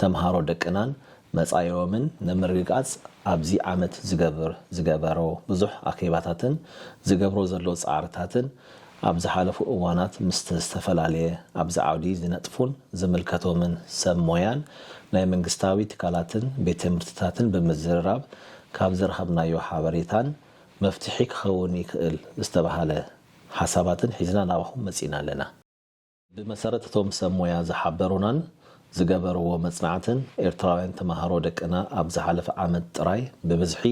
ተምሃሮ ደቅናን መጻኢኦምን ንምርግጋጽ ኣብዚ ዓመት ዝገበሮ ብዙሕ ኣኼባታትን ዝገብሮ ዘሎ ጻዕርታትን ኣብ ዝሓለፉ እዋናት ምስ ዝተፈላለየ ኣብዚ ዓውዲ ዝነጥፉን ዝምልከቶምን ሰብ ሞያን ናይ መንግስታዊ ትካላትን ቤት ትምህርትታትን ብምዝርራብ ካብ ዝረኸብናዮ ሓበሬታን መፍትሒ ክኸውን ይኽእል ዝተባህለ ሓሳባትን ሒዝና ናባኹም መጺእና ኣለና። ብመሰረት እቶም ሰብ ሞያ ዝሓበሩናን ዝገበርዎ መጽናዕትን፣ ኤርትራውያን ተመሃሮ ደቅና ኣብ ዝሓለፈ ዓመት ጥራይ ብብዝሒ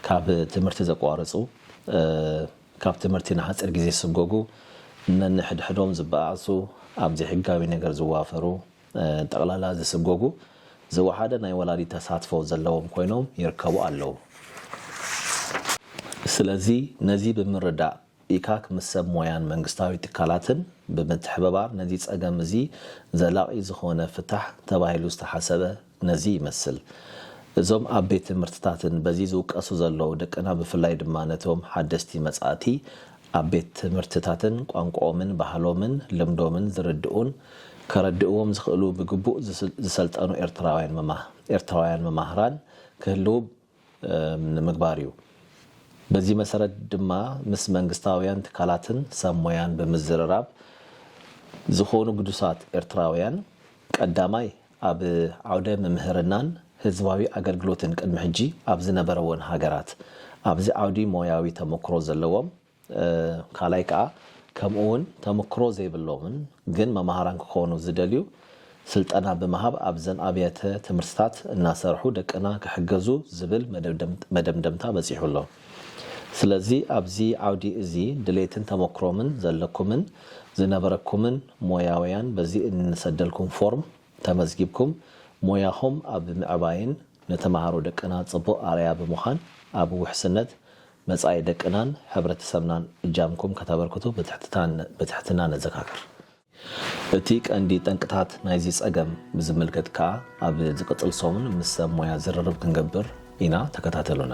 ካብ ትምህርቲ ዘቋርጹ፣ ካብ ትምህርቲ ንሓጺር ግዜ ዝስጎጉ፣ ነንሕድሕዶም ዝበኣዕሱ፣ ኣብ ዘይሕጋዊ ነገር ዝዋፈሩ፣ ጠቕላላ ዝስጎጉ፣ ዝወሓደ ናይ ወላዲት ተሳትፎ ዘለዎም ኮይኖም ይርከቡ ኣለዉ። ስለዚ ነዚ ብምርዳእ ኢካክ ምስ ሰብ ሞያን መንግስታዊ ትካላትን ብምትሕብባር ነዚ ጸገም እዚ ዘላቒ ዝኾነ ፍታሕ ተባሂሉ ዝተሓሰበ ነዚ ይመስል። እዞም ኣብ ቤት ትምህርትታትን በዚ ዝውቀሱ ዘለዉ ደቅና ብፍላይ ድማ ነቶም ሓደስቲ መጻእቲ ኣብ ቤት ትምህርትታትን ቋንቋኦምን ባህሎምን ልምዶምን ዝርድኡን ከረድእዎም ዝኽእሉ ብግቡእ ዝሰልጠኑ ኤርትራውያን መማህራን ክህልዉ ንምግባር እዩ። በዚ መሰረት ድማ ምስ መንግስታውያን ትካላትን ሰብ ሞያን ብምዝርራብ ዝኾኑ ግዱሳት ኤርትራውያን ቀዳማይ ኣብ ዓውደ ምምህርናን ህዝባዊ ኣገልግሎትን ቅድሚ ሕጂ ኣብ ዝነበረወን ሃገራት ኣብዚ ዓውዲ ሞያዊ ተመኩሮ ዘለዎም ካልኣይ ከኣ ከምኡ ውን ተምክሮ ዘይብሎምን ግን መማህራን ክኾኑ ዝደልዩ ስልጠና ብምሃብ ኣብዘን ኣብያተ ትምህርትታት እናሰርሑ ደቅና ክሕገዙ ዝብል መደምደምታ በጺሑ ኣሎ። ስለዚ ኣብዚ ዓውዲ እዚ ድሌትን ተመክሮምን ዘለኩምን ዝነበረኩምን ሞያውያን በዚ እንሰደልኩም ፎርም ተመዝጊብኩም ሞያኹም ኣብ ምዕባይን ንተማሃሮ ደቅና ጽቡቕ ኣርኣያ ብምዃን ኣብ ውሕስነት መጻኢ ደቅናን ሕብረተሰብናን እጃምኩም ከተበርክቱ ብትሕትና ነዘካክር። እቲ ቀንዲ ጠንቅታት ናይዚ ጸገም ብዝምልከት ከኣ ኣብ ዝቅጽል ሰሙን ምስ ሰብ ሞያ ዝርርብ ክንገብር ኢና ተከታተሉና።